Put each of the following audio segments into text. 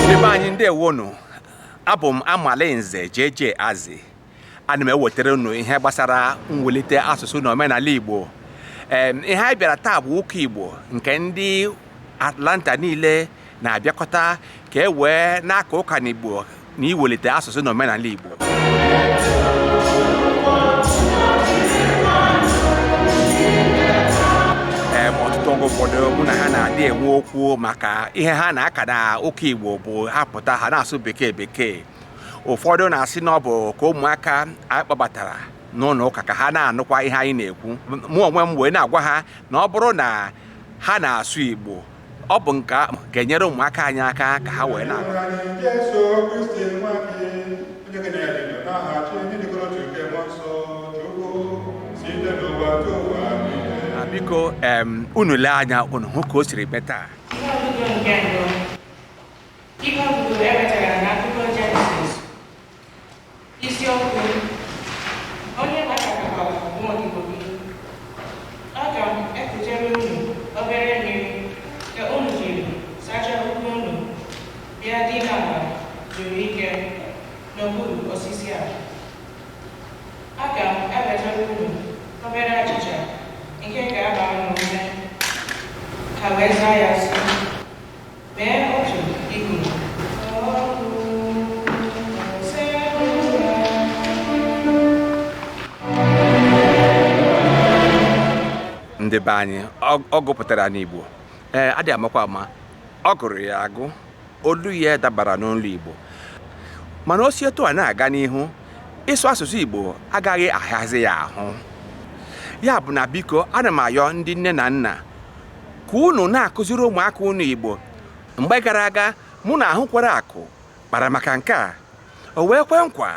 ndị be anyị ndewonu abụ m amalinze JJ Azi ana m ewetara unu ihe gbasara mwulite asụsụ na omenala Igbo Em, ihe anyị bịara taa bụ ụka Igbo nke ndị Atlanta niile na-abịakọta ka e wee na-aka ụka n'Igbo na iwelite asụsụ na omenala Igbo oge ụfọdụ mụ na ha na-adị enwe okwu maka ihe ha na-aka na ụka Igbo bụ ha pụta ha na-asụ bekee bekee ụfọdụ na-asị na ọ bụ ka ụmụaka anyị kpọbatara n'ụlọ ụka ka ha na-anụkwa ihe anyị na-ekwu mụ onwe m wee na-agwa ha na ọ bụrụ na ha na-asụ Igbo ọ bụ nke ahụ ga-enyere ụmụaka anyị aka ka ha wee na-agụ na biko em, unu lee anya unu hụ ka o siri mee taa Ihe ọgụgụ nke anọ. Ihe ọgụgụ e wetara n'akwụkwọ Jenesis Isiokwu Onye Gbasakọkwara Nwa Odibo Gị? Aga m ekutere unu obere mmiri ka unu jiri sachaa ụkwụ unu bịa dina ala zuru ike n'okpuru osisi a. Aga m ewetara unu obere achịcha nke ga-agba unu ume ha wee zaa ya sị ndị be anyị ọ gụpụtara n'Igbo ee a dị amakwa ama ọ gụrụ ya agụ olu ya dabara n'olu Igbo mana o si etu a na-aga n'ihu ịsụ asụsụ Igbo agaghị ahịazi ya ahụ ya bụ na biko ana m ayọ ndị nne na nna ka unu na-akụziri ụmụaka unu Igbo mgbe gara aga mụ na ahụ kwere akụ kpara maka nke a o wee kwe nkwa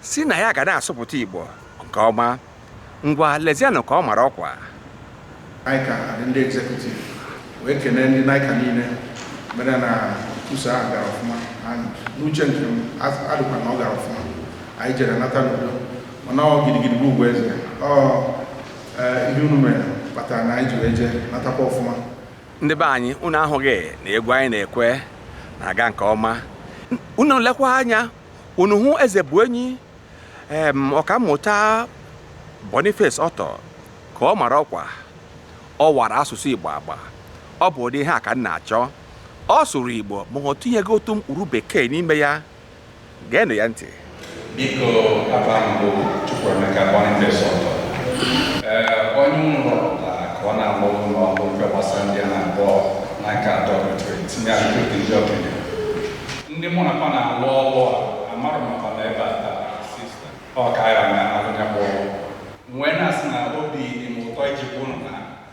sị na ya ga na-asụpụta Igbo nke ọma ngwa lezianụ ka ọ mara ọkwa NICCA adị ndị executive wee kelee ndị NICCA niile mere na nkwusa ahụ gara ọfụma and n'uche nke m a- adịkwa na ọ gara ọfụma anyị jere nata n'udo mana ọ gidigidi bụ ugwu eze ọ ihe unu mere kpatara na anyị jiri eje natakwa ọfụma ndị be anyị unu ahụghị na egwu anyị na-ekwe na-aga nke ọma unu lekwa anya unu hụ eze bụ enyi em ọkammụta Boniface Ọtọ ka ọ mara ọkwa ọ wara asụsụ Igbo agba ọ bụ ụdị ihe a ka m na-achọ ọ sụrụ Igbo ma o tinyeghị otu mkpụrụ bekee n'ime ya Geenụ ya ntị. Biko afa m bụ Chukwuemeka Boniface Oto ee onye unu rọpụtara ka ọ na-agba okwu n'ọkụ mfe gbasara ndị a na-agba na nke atọ rụtụrụ tinye ahụike ndị okenye ndị mụ na fa na-alụ ọlụ a amarụ makwa na ebe a taa sista ọ ka ya na-alụ nya bụ ọrụ wee na-asị na obi dị m ụtọ iji bụ unu na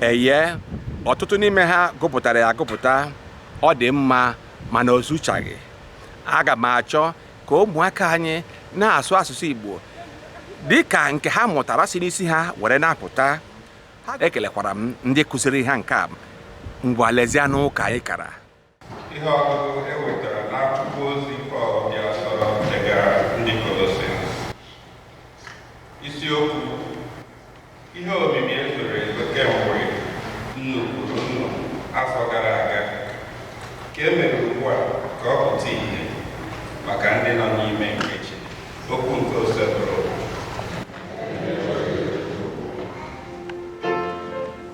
eye ọtụtụ n'ime ha gụpụtara ya agụpụta ọ dị mma mana o zuchaghị aga m achọ ka ụmụaka anyị na-asụ asụsụ Igbo dị ka nke ha mụtara si n'isi ha were na-apụta ekelekwara m ndị kụziri ha nke a ngwa lezianụ ụka anyị kara ihe ọgụgụ e wetara n'akwụkwọ ozi Pọl dị asọ degara ndị Kolosens isiokwu ihe omimi ezoro ezo kemgbe nnukwu nnụ afọ gara aga ka e mere ugbu a ka ọ pụta ihe maka ndị nọ n'ime nke chi okwu nke osebụrụ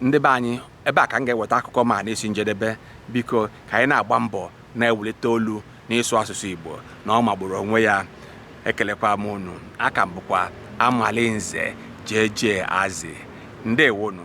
ndị be anyị ebe a ka m ga-eweta akụkọ m a n'isi njedebe biko ka anyị na-agba mbọ na-ewulite olu n'ịsụ asụsụ igbo na ọ magburu onwe ya ekelekwa m unu aha m bụkwa amali nze jj azi ndewonụ